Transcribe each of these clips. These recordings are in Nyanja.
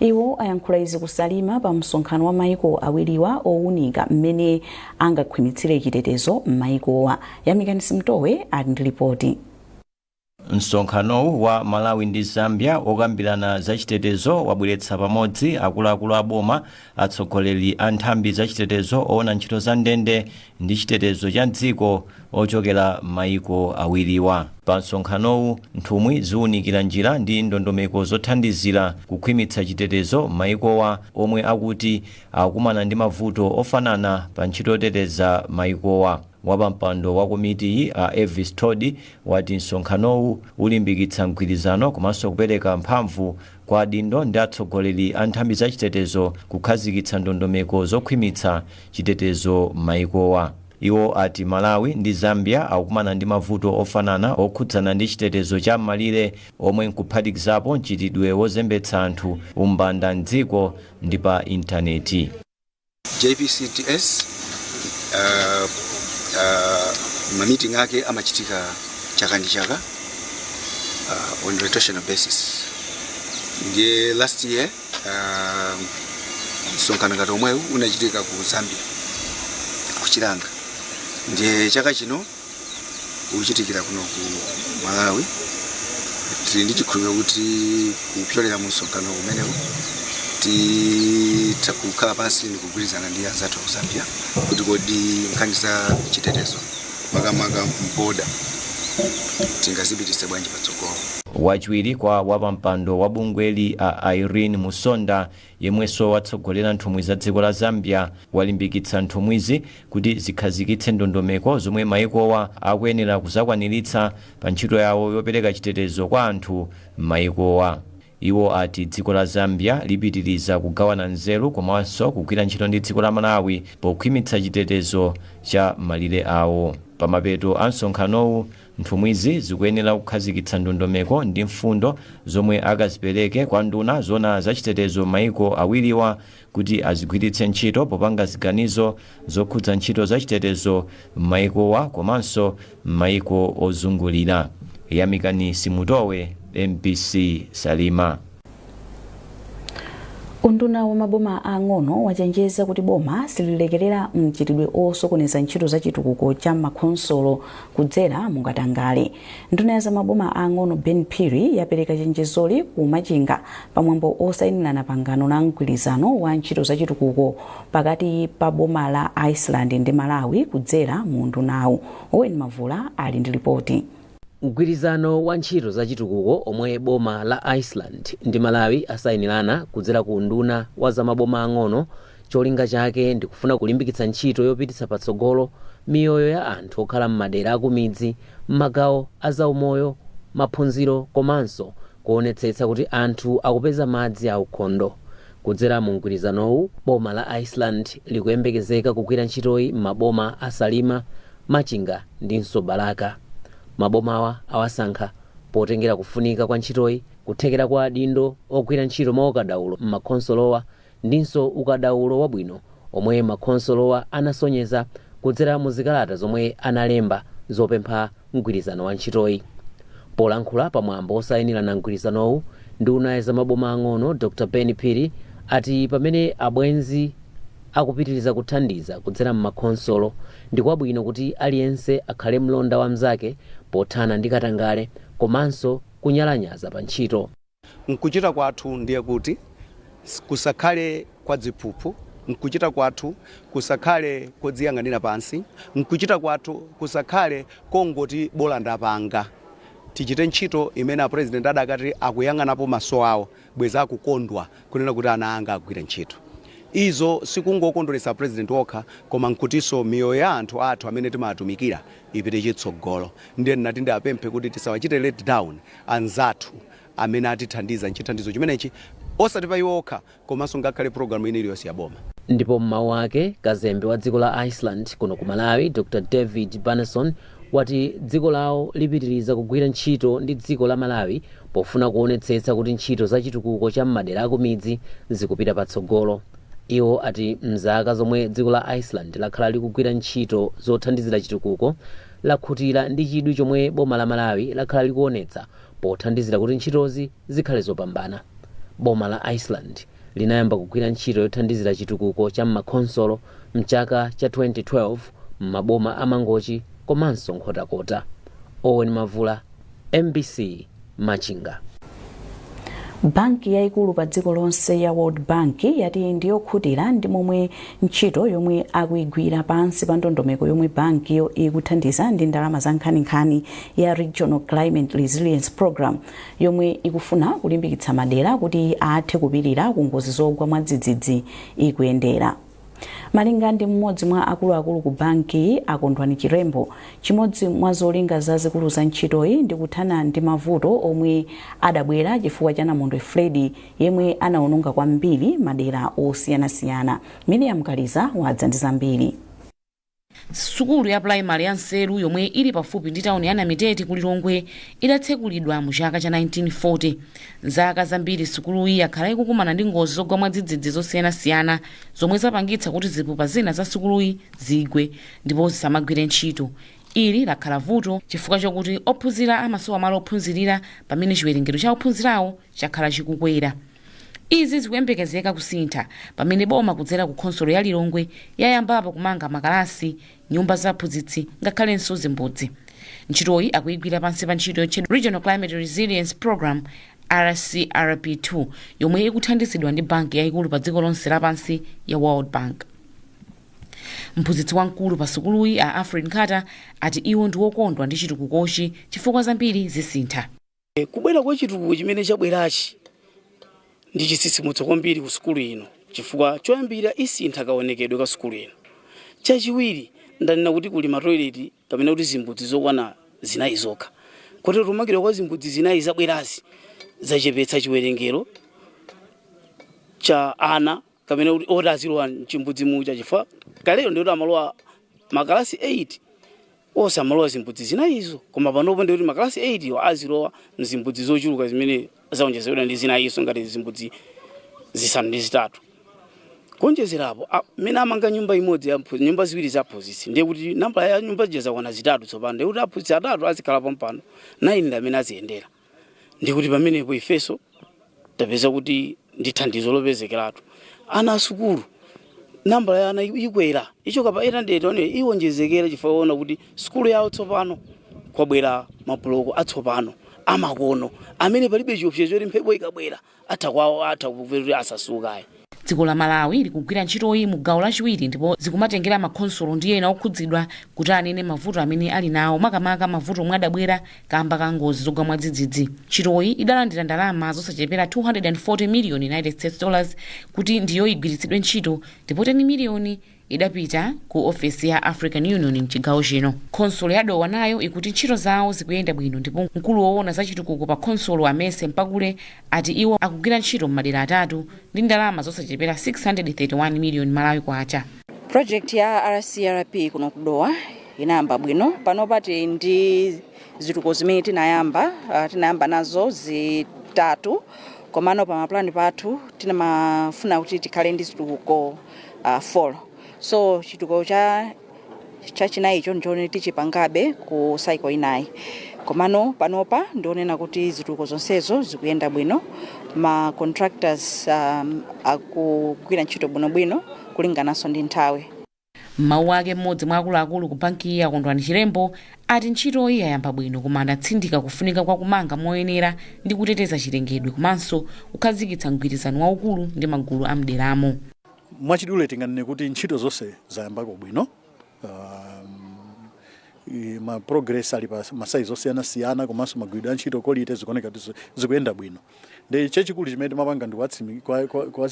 Iwo ayankhula izi ku Salima pa msonkhano wa maiko awiriwa owunika mmene angakhwimitsire chitetezo mmaikowa. Yamikani Simutowe ali ndi lipoti. Msonkhanowu wa Malawi ndi Zambia wokambirana za chitetezo wabweretsa pamodzi akuluakulu a boma, atsogoleri a nthambi za chitetezo, owona ntchito za ndende, ndi chitetezo cha m'dziko ochokera m'mayiko awiriwa. Pa msonkhanowu, nthumwi ziunikira njira ndi ndondomeko zothandizira kukhwimitsa chitetezo m'mayikowa omwe akuti akukumana ndi mavuto ofanana pa ntchito yoteteza mayikowa. Wapampando wa komitiyi, a Elvis Thodi, wati msonkhanowu ulimbikitsa mgwirizano komanso kupereka mphamvu Kwa adindo ndi atsogoleri a nthambi za chitetezo kukhazikitsa ndondomeko zokhwimitsa chitetezo m'mayikowa. Iwo ati Malawi ndi Zambia akukumana ndi mavuto ofanana okhudzana ndi chitetezo cha m'malire omwe nkuphatikizapo mchitidwe wozembetsa anthu, umbanda m'dziko ndi pa intaneti. JPCDS uh, uh, mamiting ake amachitika chaka ndi chaka uh, on rotational basis ndiye last year uh, msonkhano ngati omwewu unachitika ku zambia ku chilanga ndiye chaka chino uchitikira kuno ku malawi tili ndi chikhulupiriro kuti kupyolera mu msonkhano umenewu titha kukhala pansi ndi kugwirizana ndi anzathu aku zambia kuti kodi nkhani za chitetezo makamaka m'boda tingazipitise bwanji patsogolo Wachiwiri kwa wapampando wa bungweli a Irene Musonda Yemwenso watsogolera nthumwi za dziko la Zambia walimbikitsa nthumwizi kuti zikhazikitse ndondomeko zomwe mayikowa akuyenera kuzakwaniritsa pa ntchito yawo yopereka chitetezo kwa anthu m'mayikowa. Iwo ati dziko la Zambia lipitiliza kugawana nzeru komanso kugwira ntchito ndi dziko la Malawi pokhwimitsa chitetezo cha malire awo. Pamapeto a msonkhanowu, Nthumwizi zikuyenera kukhazikitsa ndondomeko ndi mfundo zomwe akazipereke kwa nduna zoona za chitetezo m'maiko awiriwa kuti azigwiritse ntchito popanga ziganizo zokhudza ntchito za chitetezo m'maikowa komanso m'maiko ozungulira. Yamikani Simutowe, mbc, Salima. unduna wa maboma aang'ono wachenjeza kuti boma sililekerera mchitidwe osokoneza ntchito za chitukuko cha makhonsolo kudzera mukatangale nduna ya za maboma aang'ono ben phiri yapereka chenjezoli ku machinga pamwambo osayinirana pangano la mgwirizano wa ntchito za chitukuko pakati pa boma la iceland ndi malawi kudzera mu undunawu owen mavula ali ndi lipoti Mgwirizano wa ntchito za chitukuko omwe boma la Iceland ndi Malawi asayinirana kudzera ku unduna wa za maboma ang'ono cholinga chake ndikufuna kulimbikitsa ntchito yopititsa patsogolo miyoyo ya anthu okhala m'madera akumidzi m'magawo a zaumoyo, maphunziro komanso kuonetsetsa kuti anthu akupeza madzi aukhondo. Kudzera mu mgwirizanowu, boma la Iceland likuyembekezeka kugwira ntchitoyi m'maboma a Salima, Machinga ndinso Balaka. Mabomawa awasankha potengera kufunika kwa ntchitoyi, kuthekera kwa adindo ogwira ntchito mwaukadaulo m'makhonsolowa ndinso ukadaulo wabwino omwe makhonsolowa anasonyeza kudzera mu zikalata zomwe analemba zopempha mgwirizano wa ntchitoyi. Polankhula pa mwambo osayinirana mgwirizanowu, nduna yazamaboma ang'ono Dr Ben Phiri ati pamene abwenzi, akupitiriza kuthandiza kudzera m'makhonsolo, ndi kwabwino kuti aliyense akhale mlonda wa mnzake pothana ndi katangale komanso kunyalanyaza pa ntchito. M'kuchita kwathu ndiye kuti kusakhale kwa dziphuphu, m'kuchita kwathu kusakhale kodziyang'anira pansi, m'kuchita kwathu kusakhale kongoti bola ndapanga. Tichite ntchito imene a President adakati akuyang'anapo maso awo. bweza akukondwa kunena kuti ana anga agwira ntchito. Izo sikungokondweretsa president wokha koma nkutiso miyoyo ya anthu athu amene timatumikira ipite chitsogolo. Ndiye ndinati ndiapemphe kuti tisawachite let down anzathu amene atithandiza nchithandizo chimenechi osati pa iwo okha komanso ngakhale program ina iliyonse ya boma. Ndipo m'mawu ake, Kazembe wa dziko la Iceland kuno ku Malawi, Dr David Bjarnason, wati dziko lawo lipitiriza kugwira ntchito ndi dziko la Malawi pofuna kuonetsetsa kuti ntchito za chitukuko cha m'madera akumidzi zikupita patsogolo. Iwo ati m'zaka zomwe dziko la Iceland lakhala likugwira ntchito zothandizira chitukuko, lakhutira ndi chidwi chomwe boma la Malawi lakhala likuonetsa pothandizira kuti ntchitozi zikhale zopambana. Boma la Iceland. linayamba kugwira ntchito yothandizira chitukuko cha m'makhonsolo m'chaka cha 2012 m'maboma a Mangochi komanso Nkhotakota. Owen Mavula, mbc, Machinga. Banki yaikulu pa dziko lonse ya World Bank yati ndi yokhutira ndi momwe ntchito yomwe akuigwira pansi pa ndondomeko yomwe bankiyo ikuthandiza ndi ndalama za nkhaninkhani ya Regional Climate Resilience Program yomwe ikufuna kulimbikitsa madera kuti athe kupirira ku ngozi zogwa mwadzidzidzi ikuyendera. Malinga ndi mmodzi mwa akuluakulu ku banki, a Kondwani Chirembo, chimodzi mwa zolinga zazikulu za ntchitoyi ndi kuthana ndi mavuto omwe adabwera chifukwa cha namondwe Freddy yemwe anaononga kwambiri madera osiyanasiyana. Miriam Kaliza wadza ndi zambiri. Sukulu ya pulayimale ya Nseru yomwe ili pafupi ndi tawuni ya Namitete ku Lilongwe idatsekulidwa mu chaka cha 1940. M'zaka zambiri sukuluyi yakhala ikukumana ndi ngozi zogwa mwadzidzidzi zosiyanasiyana zomwe zapangitsa kuti zipupa zina za sukuluyi zigwe ndipo zisamagwire ntchito. Ili lakhala vuto chifukwa chokuti ophunzira amasowa malo ophunzirira pamene chiwerengero cha ophunzirawo chakhala chikukwera. Izi zikuyembekezeka kusintha pamene boma kudzera ku khonsolo ya Lilongwe yayambapo kumanga makalasi, nyumba za aphunzitsi ngakhalenso zimbudzi. Ntchitoyi akuyigwira pansi pa ntchito yotchedwa Regional Climate Resilience Programme, RCRP2, yomwe ikuthandizidwa ndi banki yayikulu pa dziko lonse lapansi ya World Bank. Mphunzitsi wamkulu pa sukuluyi a Alfred Nkhata ati iwo ndi wokondwa ndi chitukukochi chifukwa zambiri zisintha. E, kubwera kwa chitukuko chimene chabwerachi ndi chitsitsimutso kwambiri ku sukulu ino chifukwa choyambira isintha kaonekedwe ka sukulu ino. Chachiwiri ndanena kuti kuli matoileti kapena kuti zimbudzi zokwana zinayi zokha kotero kumangidwa kwa zimbudzi zinayi zabwerazi zachepetsa chiwerengero cha ana kapena kuti oti azilowa mchimbudzi muja chifukwa kalero ndiye amalowa makalasi 8 onse amalowa zimbudzi zinayizo koma panopo ndiye makalasi 8 iwo azilowa mzimbudzi zochuluka zimene zaonjezedwa ndi zinayizo ngati zimbudzi zisanu ndi zitatu kuonjezera apo a- mmene amanga nyumba imodzi ya mphu- nyumba ziwiri za aphunzitsi ndiye kuti nambala ya nyumba zija zakwana zitatu tsopano ndiye kuti aphunzitsi atatu azikhala pompano 9 ndi amene aziyendera ndikuti pamenepo ifenso tapeza kuti ndi thandizo lopezekeratu ana asukulu nambala ya ana ikwera ichoka pa 800 iwonjezekera chifukwa aona kuti sukulu yawo tsopano kwabwera mabuloko atsopano amakono amene palibe chiopsezo choti mphepo ikabwera atha kugwa atha kupita kuti asasuka ayi Dziko la Malawi likugwira ntchitoyi mu gawo lachiwiri ndipo zikumatengera makhonsolo ndi ena okhudzidwa kuti anene mavuto amene ali nawo makamaka mavuto omwe adabwera kamba ka ngozi zogwa mwadzidzidzi. Ntchitoyi idalandira ndalama zosachepera 240 miliyoni United States dollars kuti ndiyo igwiritsidwe ntchito ndipo 10 miliyoni idapita ku ofesi ya African Union m'chigawo chino. Khonsolo ya Dowa nayo ikuti ntchito zawo zikuyenda bwino ndipo mkulu woona za chitukuko pa khonsolo a Mercy Mpakule ati iwo akugwira ntchito m'madera atatu ndi ndalama zosachepera 631 miliyoni Malawi Kwacha. Project ya RCRP kuno ku Dowa inayamba bwino panopa tili ndi zitukuko zimene tinayamba ah, tinayamba nazo zitatu komano pa mapulani pathu tinkafuna kuti tikhale ndi zitukuko uh, 4 so chitukuko cha chachinayicho ndichoti tichipangabe ku cycle inayi komano panopa ndionena kuti zitukuko zonsezo zikuyenda bwino ma contractors um, akugwira ntchito bwinobwino kulingananso ndi nthawi m'mawu ake mmodzi mwa akuluakulu ku bankiyi a Kondwani Chilembo ati ntchito iyi yayamba bwino koma adatsindika kufunika kwa kumanga moyenera ndi kuteteza chilengedwe komanso kukhazikitsa mgwirizano waukulu ndi magulu a m'deramo. Mwachidule tinganene kuti ntchito zonse zayambako bwino. Um, ma progress ali pa masayizi osiyanasiyana komanso magwiridwe a ntchito kolite zikuoneka kuti zikuyenda bwino. ndi chachikulu chimene timapanga ndi kuwatsimi- kwa- kwa- kwa-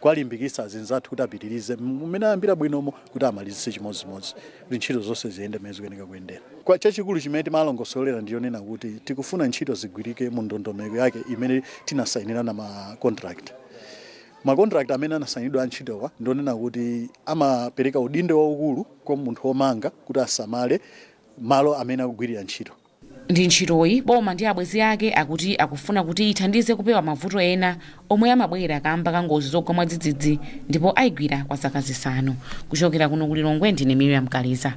kuwalimbikitsa azinzathu kuti apitirize mmene ayambira bwinomo kuti amalizitse chimodzimodzi kuti ntchito zonse ziyende mmene zikuyenera kuyendera koma chachikulu chimene timalongosolera ndi chonena kuti tikufuna ntchito zigwirike mu ndondomeko yake imene tinasayinirana ma contract makontrakt amene anasayinidwa a ntchitowa ndionena kuti amapereka udindo waukulu kwa munthu womanga kuti asamale malo amene akugwirira ntchito ndi ntchitoyi, boma ndi abwenzi ake akuti akufuna kuti ithandize kupewa mavuto ena omwe amabwera kaamba ka ngozi zogwa mwadzidzidzi ndipo ayigwira kwa zaka zisanu. Kuchokera kuno ku Lilongwe ndine Miriam Kaliza.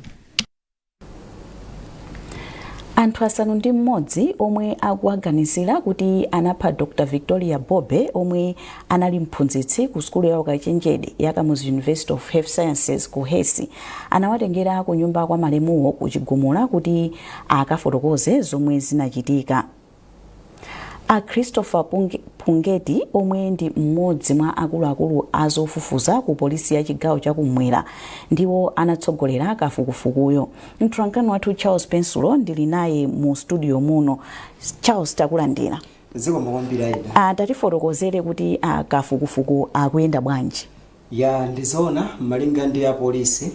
anthu asanu ndi mmodzi omwe akuwaganizira kuti anapha dr victoria bobe omwe anali mphunzitsi ku sukulu ya ukachenjede ya kamuzu university of health sciences KUHeS anawatengera ku nyumba kwa malemuwo ku chigumula kuti akafotokoze zomwe zinachitika. A Christopher Pungeti omwe ndi mmodzi mwa akuluakulu a zofufuza ku polisi ya chigawo chakumwera ndiwo anatsogolera kafukufukuyo. Mtolankhani wathu Charles Pensulo ndili naye mu studio muno. Charles takulandira. zikomo kwambiri aida tatifotokozere kuti kafukufuku akuyenda bwanji Yaa, ndi zoona. Malinga ndi apolisi,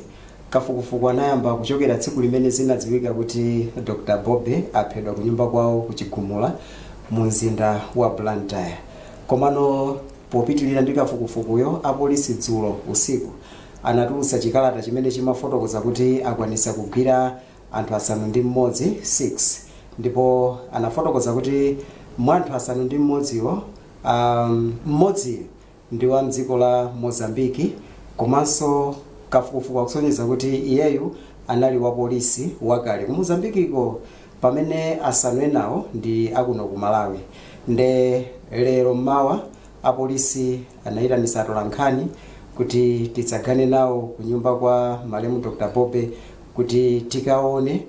kafukufuku anayamba kuchokera tsiku limene zinadziwika kuti Dr Bobe aphedwa kunyumba kwawo ku Chigumula mu mzinda wa Blantyre. Komano popitilira ndi kafukufukuyo, apolisi dzulo usiku anatulutsa chikalata chimene chimafotokoza kuti akwanitsa kugwira anthu asanu ndi mmodzi 6 ndipo anafotokoza kuti mwa anthu asanu ndi mmodziwo, mmodzi. ndi wa m'dziko la Mozambique komanso kafukufuku akusonyeza kuti iyeyu anali wa polisi wakale ku Mozambique-ko pamene asanu enawo ndi akuno ku Malawi nde lero m'mawa apolisi anayitanisa atolankhani kuti titsagane nawo ku nyumba kwa malemu Dr. Bobe kuti tikaone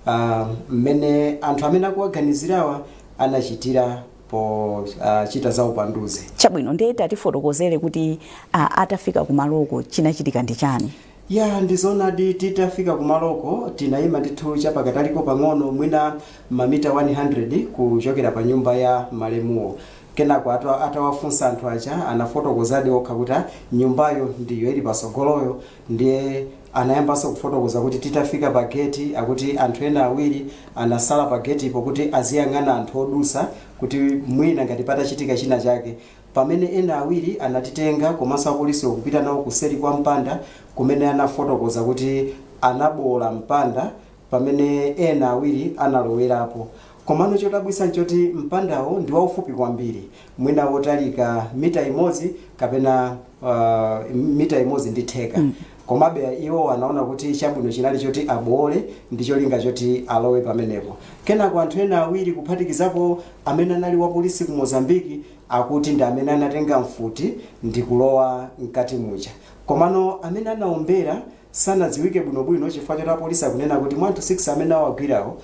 ah, mmene anthu amene akuwaganizirawa anachitira pochita zaupanduzi. Chabwino, ndiye tatifotokozere kuti a, atafika kumaloko chinachitika ndi chani? ya ndizonadi titafika kumaloko tinayima ndithu chapakataliko pang'ono mwina mamita 100 kuchokera pa nyumba ya malemuwo kenako ata- atawafunsa anthu aja anafotokozadi okha kuti "Ah, nyumbayo ndiyo ili pasogoloyo Ndiye anayambanso kufotokoza kuti titafika pa geti akuti anthu ena awiri anasala pa getipo kuti aziyang'ana anthu odusa kuti mwina ngati patachitika china chake pamene ena awiri anatitenga komanso apolisiwo kupita nawo kuseri kwa mpanda kumene anafotokoza kuti anaboola mpanda pamene ena awiri analowerapo. Komano chodabwitsa n'choti mpandawo ndi waufupi kwambiri, mwina wotalika mita imodzi kapena uh, mita imodzi ndi theka komabe iwo anaona kuti chabwino chinali choti aboole ndi cholinga choti alowe pamenepo kenako anthu ena awiri kuphatikizapo amene anali wapolisi ku mozambiki akuti ndi amene anatenga mfuti ndi kulowa mkati muja komano amene anaombera sanadziwike bwinobwino chifukwa choti apolisi akunena kuti mwa anthu 6 amene awagwirawo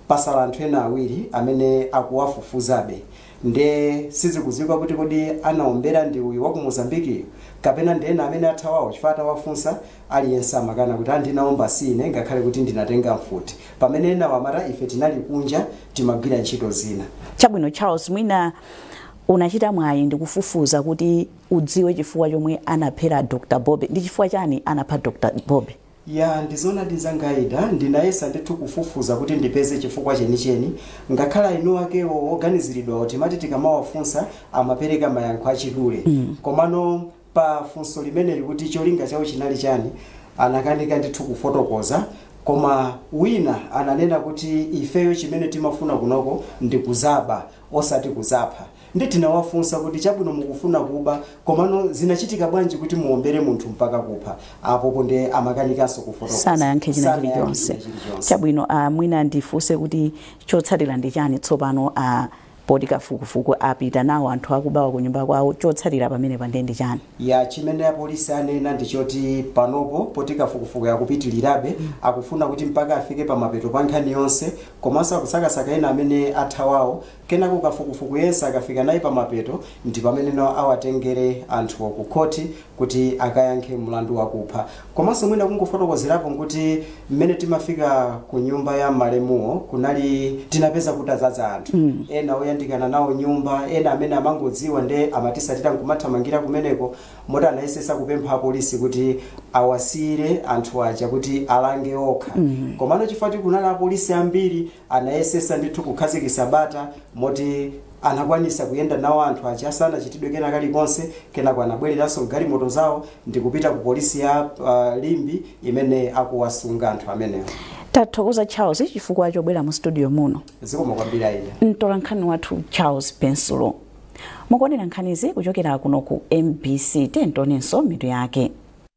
pasala anthu ena awiri amene akuwafufuzabe nde sizikudziwika kuti kodi anaombera ndi uyu wa ku Mozambique-yu kapena ndi ena amene athawawo chifukwa atawafunsa aliyense amakana kuti a ndinaombera si ine ngakhale kuti ndinatenga mfuti pamene enawo amati ife tinali kunja timagwira ntchito zina. Chabwino Charles mwina unachita mwayi ndikufufuza kuti udziwe chifukwa chomwe anaphera Dr Bobi ndi chifukwa chani anapha Dr Bobi. Ya ndizoonadi nzanga Aida ndinayesa ndithu kufufuza kuti ndipeze chifukwa chenicheni ngakhale eniakewo oganiziridwawo timati tikamawafunsa amapereka mayankho achidule komano pa funso limeneli kuti cholinga chawo chinali chani anakanika ndithu kufotokoza koma wina ananena kuti ifeyo chimene timafuna kunoko ndi kuzaba osati kuzapha Nde tinawafunsa kuti chabwino mukufuna kuba komano zinachitika bwanji kuti muwombere munthu mpaka kupha? Apopo nde amakanikanso kufotokoza. Sanayankhe china chilichonse. Sanayankhe china chilichonse. Chabwino, ah, mwina ndifunse kuti chotsatira ndi chani tsopano ah, poti kafukufuku apita nawo anthu akubawa ku nyumba kwawo chotsatira pamenepa nde ndi chani? Ya chimene apolisi anena ndi choti panopo poti kafukufuku akupitilirabe akufuna kuti mpaka afike pamapeto pa nkhani yonse komanso akusakasaka ena amene athawawo Kenako kafukufuku yense akafika naye pamapeto ndi pamene no awatengere anthuwo ku khothi kuti akayankhe mlandu wakupha. Komanso mwina kungofotokozerapo nkuti mmene timafika ku nyumba ya malemuwo kunali tinapeza kutadzadza anthu. Ena oyandikana nawo nyumba, ena amene amangodziwa nde amatisatira nkumathamangira kumeneko moti anayesesa kupempha apolisi kuti awasiyire anthu aja kuti alange okha. Komano chifukwa choti kunali apolisi ambiri Anayesesa ndithu kukhazikisa bata moti anakwanisa kuyenda nawo anthu aja sanachitidwe kena kalikonse kenako anabweleranso mgalimoto zawo ndikupita ku polisi ya uh, Limbe imene akuwasunga anthu amenewo. Tathokoza Charles chifukwa chobwera mu studio muno. Zikomo kwambiri Ida. Mtolankhani wathu Charles Pensulo. Mukuonera nkhanizi kuchokera kuno ku MBC tionenso mitu yake.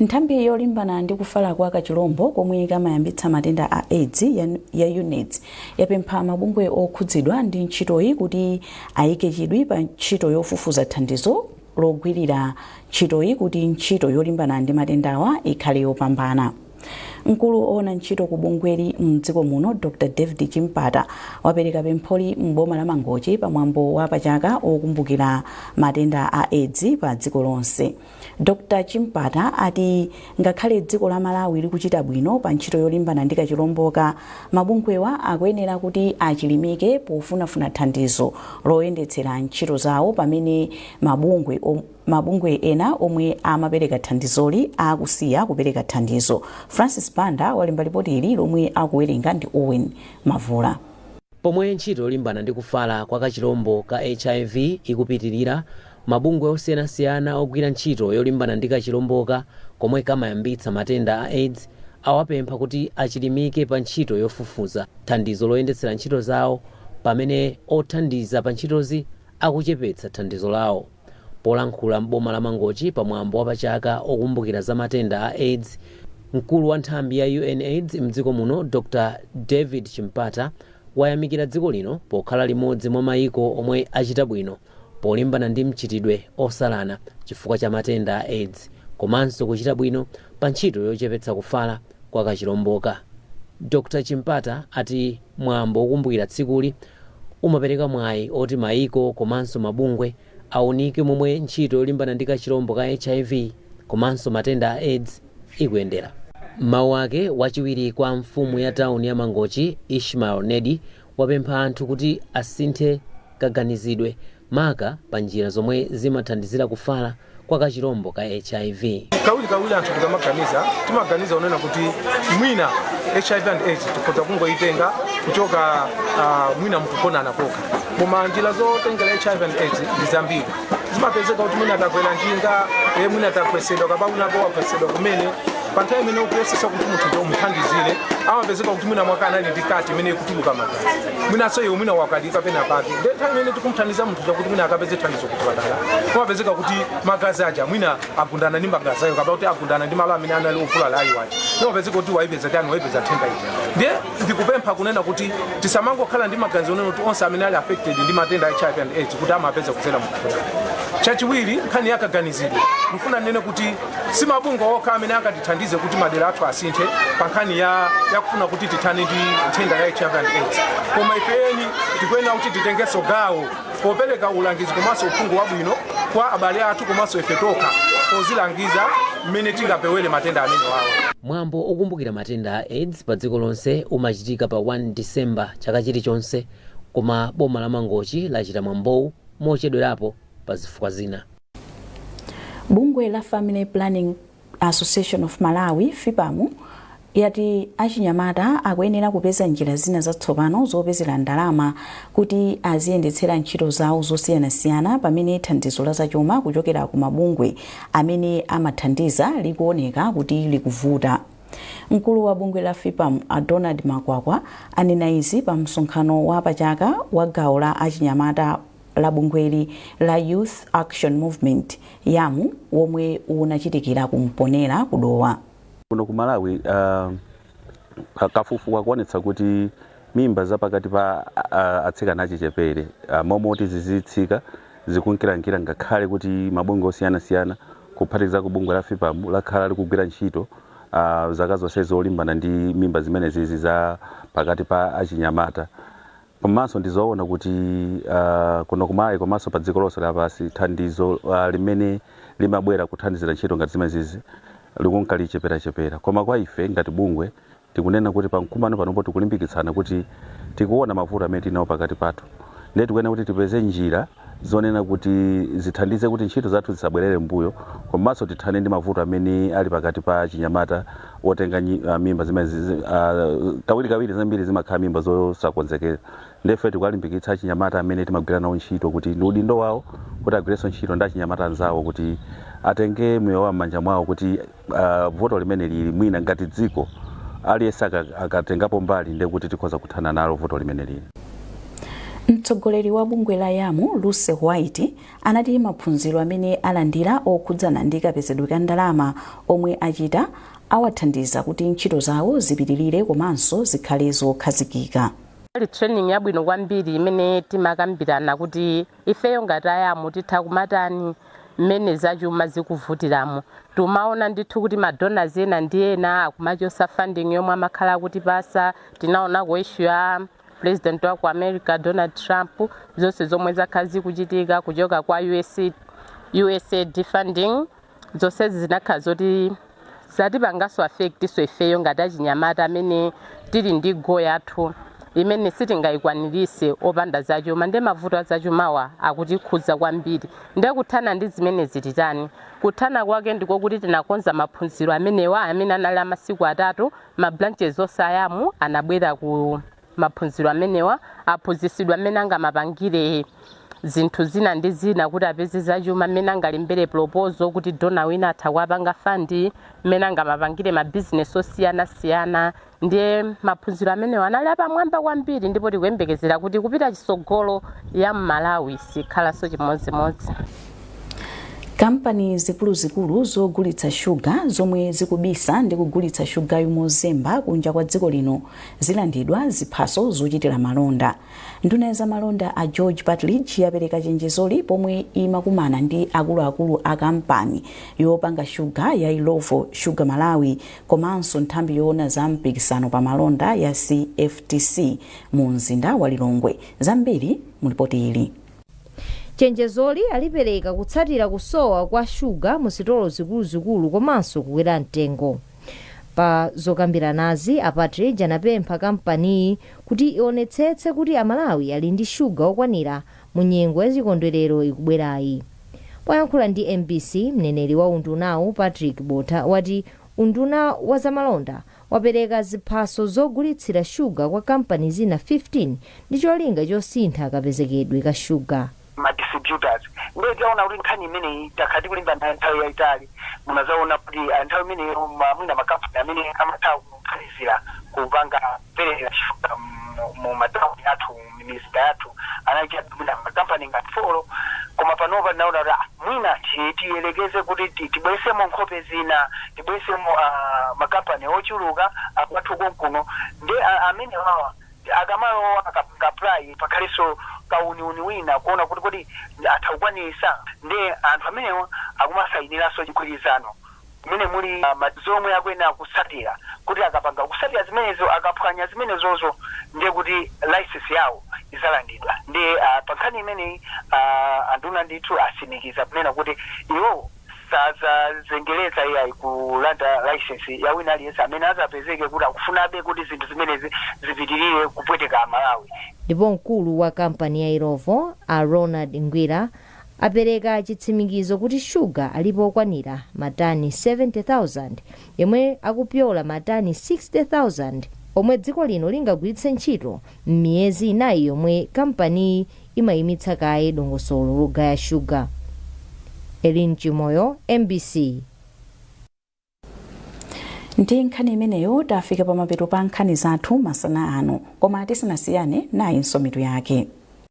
Nthambi yolimbana ndi kufala kwa kachilombo komwe kamayambitsa matenda a aids ya UNAIDS yapempha mabungwe okhudzidwa ndi ntchitoyi kuti ayike chidwi pa ntchito yofufuza thandizo logwirira ntchitoyi kuti ntchito yolimbana ndi matendawa ikhale yopambana. Mkulu owona ntchito ku bungweli mdziko muno Dr David Chimpata wapereka pempholi m'boma la Mangochi pa mwambo wa pachaka wokumbukira matenda a aids pa dziko lonse. Dr Chimpata ati ngakhale dziko la Malawi likuchita bwino pa ntchito yolimbana ndi kachilomboka, mabungwewa akuyenera kuti achilimike pofunafuna thandizo loyendetsera ntchito zawo pamene mabungwe ena omwe amapereka thandizoli akusiya kupereka thandizo. Francis Banda walemba lipoti ili lomwe akuwerenga ndi Owen Mavula. Pomwe ntchito yolimbana ndi kufala kwa kachilombo ka hiv ikupitilira, Mabungwe osiyanasiyana ogwira ntchito yolimbana ndi kachilomboka komwe kamayambitsa matenda a aids awapempha kuti achilimike pa ntchito yofufuza thandizo loyendetsera ntchito zawo pamene othandiza pa ntchitozi akuchepetsa thandizo lawo. Polankhula m'boma la Mangochi pa mwambo wa pa chaka okumbukira za matenda a aids, mkulu wa nthambi ya UNAids mdziko muno Dr David Chimpata wayamikira dziko lino pokhala limodzi mwa maiko omwe achita bwino polimbana ndi mchitidwe osalana chifukwa cha matenda a aids komanso kuchita bwino pa ntchito yochepetsa kufala kwa kachilomboka. Dr. Chimpata ati mwambo wokumbukira tsikuli umapereka mwayi oti maiko komanso mabungwe aunike momwe ntchito yolimbana ndi kachilombo ka hiv komanso matenda a aids ikuyendera. M'mawu ake, wachiwiri kwa mfumu ya tawuni ya Mangochi, Ishmael Nedi, wapempha anthu kuti asinthe. kaganizidwe, maka pa njira zomwe zimathandizira kufala kwa kachilombo ka HIV. Kawirikawiri anthu tikamaganiza, timaganiza kunena kuti mwina HIV and aids tikhoza kungoyitenga kuchoka mwina mukugonana kokha. Koma njira zotengera HIV and aids ndi zambiri. Zimapezeka kuti mwina takwera njinga, eh mwina tagwetsedwa kapena mnzako wagwetsedwa kumene, pa nthawi imene ukuyesesa kuti munthu uja umuthandizire, amapezeka kuti mwina mwake anali ndi cut imene ikutuluka magazi. mwinanso iwe mwina wakadika pena pake nde nthawi imene tikumthandiza munthu kuti mwina akapeze thandizo kuchipatala kumapezeka kuti magazi aja mwina agundana ndi magazi ayo kapena kuti agundana ndi malo amene anali ovulala ayo aja ndimapezeka kuti waipeza tani waipeza nthenda ija ndiye ndikupempha kunena kuti tisamangokhala ndi maganizo onena kuti onse amene ali affected ndi matenda a hiv and aids kuti amapeza kudzera mu chipatala chachiwiri nkhani yakaganizidwe ndifuna ndinene kuti Si mabungwe okha amene angatithandize kuti madera athu asinthe pa nkhani yakufuna kuti tithane ndi nthenda ya HIV and AIDS. Koma ife eni tikuyenera kuti titengenso gawo popereka ulangizi komanso uphungu wabwino kwa abale athu komanso ife tokha pozilangiza mmene tingapewere matenda amenewawa. Mwambo okumbukira matenda a aids pa dziko lonse umachitika pa 1 December chaka chilichonse koma boma la Mangochi lachita mwambowu mochedwerapo pa zifukwa zina. Bungwe la Family Planning Association of Malawi, FPAM, yati achinyamata akuyenera kupeza njira zina zatsopano zopezera ndalama kuti aziyendetsera ntchito zawo zosiyanasiyana pamene thandizo la zachuma kuchokera ku mabungwe amene amathandiza likuoneka kuti likuvuta. Mkulu wa bungwe la FPAM a Donald Makwakwa anena izi pa msonkhano wa pachaka wa gawo la achinyamata la bungweli la Youth Action Movement, YAM, womwe unachitikira ku Mponela ku Dowa. Kuno ku Malawi uh, kafukufuku akuonetsa kuti mimba za pakati pa uh, atsikana achichepere uh, mmalo moti zizitsika zikunkirankira ngakhale kuti mabungwe osiyanasiyana kuphatikizapo bungwe la FPAM lakhala likugwira ntchito uh, zaka zonse zolimbana ndi mimba zimenezizi za pakati pa achinyamata Komanso ndi zoona kuti ah, kuno ku Malawi komanso pa dziko lonse lapansi thandizo ah, limene limabwera kuthandizira ntchito ngati zimenezizi likunka licheperachepera. Koma kwa ife ngati bungwe tikunena kuti pa mkumano panopo tikulimbikitsana kuti tikuona mavuto amene tili nawo pakati pathu ndiye tikuyenera kuti tipeze njira zonena kuti zithandize kuti ntchito zathu zisabwerere m'mbuyo komanso tithane ndi mavuto amene ali pakati pa achinyamata otenga nyi- ah, mimba zimene zi- zi- ah, kawirikawiri zambiri zimakhala mimba zosakonzekera nde ife tikuwalimbikitsa achinyamata amene timagwira nawo ntchito kuti ndi udindo wawo kuti agwirenso ntchito ndi achinyamata anzawo kuti atenge moyo wawo m'manja mwawo kuti uh, vuto limeneli mwina ngati dziko aliyense akatengapo mbali ndiye kuti tikhoza kuthana nalo vuto limeneli mtsogoleri wa bungwe la yam lucy white anati maphunziro amene alandira okhudzana ndi kapezedwe ka ndalama omwe achita awathandiza kuti ntchito zawo zipitirire komanso zikhale zokhazikika inali training yabwino kwambiri imene timakambirana kuti Ifeyo ngati a YAMU titha kumatani mmene zachuma zikuvutiramo. Tumaona ndithu kuti ma donors ena ndi ena akumachosa funding yomwe amakhala akutipasa, tinaonako issue ya President wa ku America Donald Trump, zonse zomwe zakhala zikuchitika kuchoka kwa USA, USAID funding, Zonsezi zinakhala zoti zatipanganso affectinso ifeyo ngati achinyamata amene tili ndi goal yathu imene sitingayikwanirise opanda zachuma nde mavuto azachumawa akutikhuza kwambiri nde kuthana ndi zimenezi titani kuthana kwake ndikokuti tinakonza maphunziro amenewa amene anali amasiku atatu ma branches onse a YAMU anabwera ku maphunziro amenewa aphunzisidwa mmene angamapangire zinthu zina ndi zina kuti apeze zachuma mmene angalembere proposal kuti dona wina atha kuwapanga fund mmene angamapangire mabizinesi osiyanasiyana ndiye maphunziro amenewa anali apamwamba kwambiri ndipo tikuyembekezera kuti kupita chisogolo YAM Malawi sikhalanso chimodzimodzi kampani zikuluzikulu zogulitsa shuga zomwe zikubisa ndi kugulitsa shugayu mozemba kunja kwa dziko lino zilandidwa ziphaso zochitira malonda nduna ya zamalonda a George Partridge yapereka chenjezoli pomwe imakumana ndi akuluakulu a kampani yopanga shuga ya Illovo Sugar Malawi komanso nthambi yoona za mpikisano pa malonda ya CFTC mu mzinda wa Lilongwe zambiri mulipoti ili chenjezoli alipereka kutsatira kusowa kwa shuga mu sitolo zikuluzikulu komanso kukwera mtengo Pa zokambiranazi, a Partridge anapempha kampaniyi kuti ionetsetse kuti aMalawi ali ndi shuga okwanira mu nyengo ya chikondwerero ikubwerayi. Poyankhula ndi MBC, mneneri wa undunawu, Patrick Botha, wati unduna wa zamalonda wapereka ziphaso zogulitsira shuga kwa kampani zina 15 ndi cholinga chosintha kapezekedwe ka shuga. ma distributors ndiye taona kuti nkhani imeneyi takhala tikulimbana nayo nthawi yaitali munazaona kuti ah, nthawi imene ma- mwina makampani amene amatha kuthandizira kupanga kupereka shuga mu- mu matauni athu mizinda yathu anali chabe mwina makampani ngati four koma panopa tinaona kuti ah, mwina ti- tiyelekeze kuti ti- tibwesemo nkhope zina tibwesemo ah, makampani ochuluka akwathu konkuno ndi ah, amene wawa akamalowa akapanga apply pakhalanso kauniuni wina kuona kuti kodi atha kukwanisa nde anthu amenewa akumasayinilanso chigwirizano mmene muli ma zomwe akuyenera kutsatira kuti akapanga kutsatira zimenezo akaphwanya zimenezozo nde kuti license yawo izalandidwa nde pankhani imeneyi anduna ndithu asimikiza kunena kuti iwowo sadzazengereza iyayi kulanda licence ya wina aliyense amene adzapezeke kuti akufunabe kuti zinthu zimenezi zipitirire kupweteka Amalawi. Ndipo mkulu wa kampani ya Illovo, a Ronald Ngwira, apereka chitsimikizo kuti shuga alipo okwanira matani 70,000 omwe akupyola matani 60,000 omwe dziko lino lingagwiritse ntchito M'miyezi inayi yomwe kampaniyi imayimitsa kaye dongosolo logaya shuga. Elin Chimoyo, mbc. Ndi nkhani imeneyo tafika pamapeto pa nkhani zathu masana ano, koma tisanasiyane nayinso mitu yake.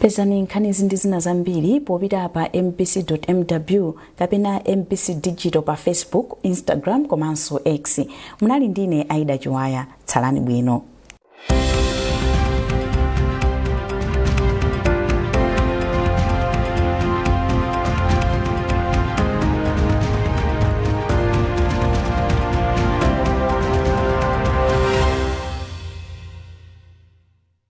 pezani nkhanizi ndi zina zambiri popita pa mbc.mw kapena mbc digital pa facebook instagram komanso x munali ndine aida chiwaya tsalani bwino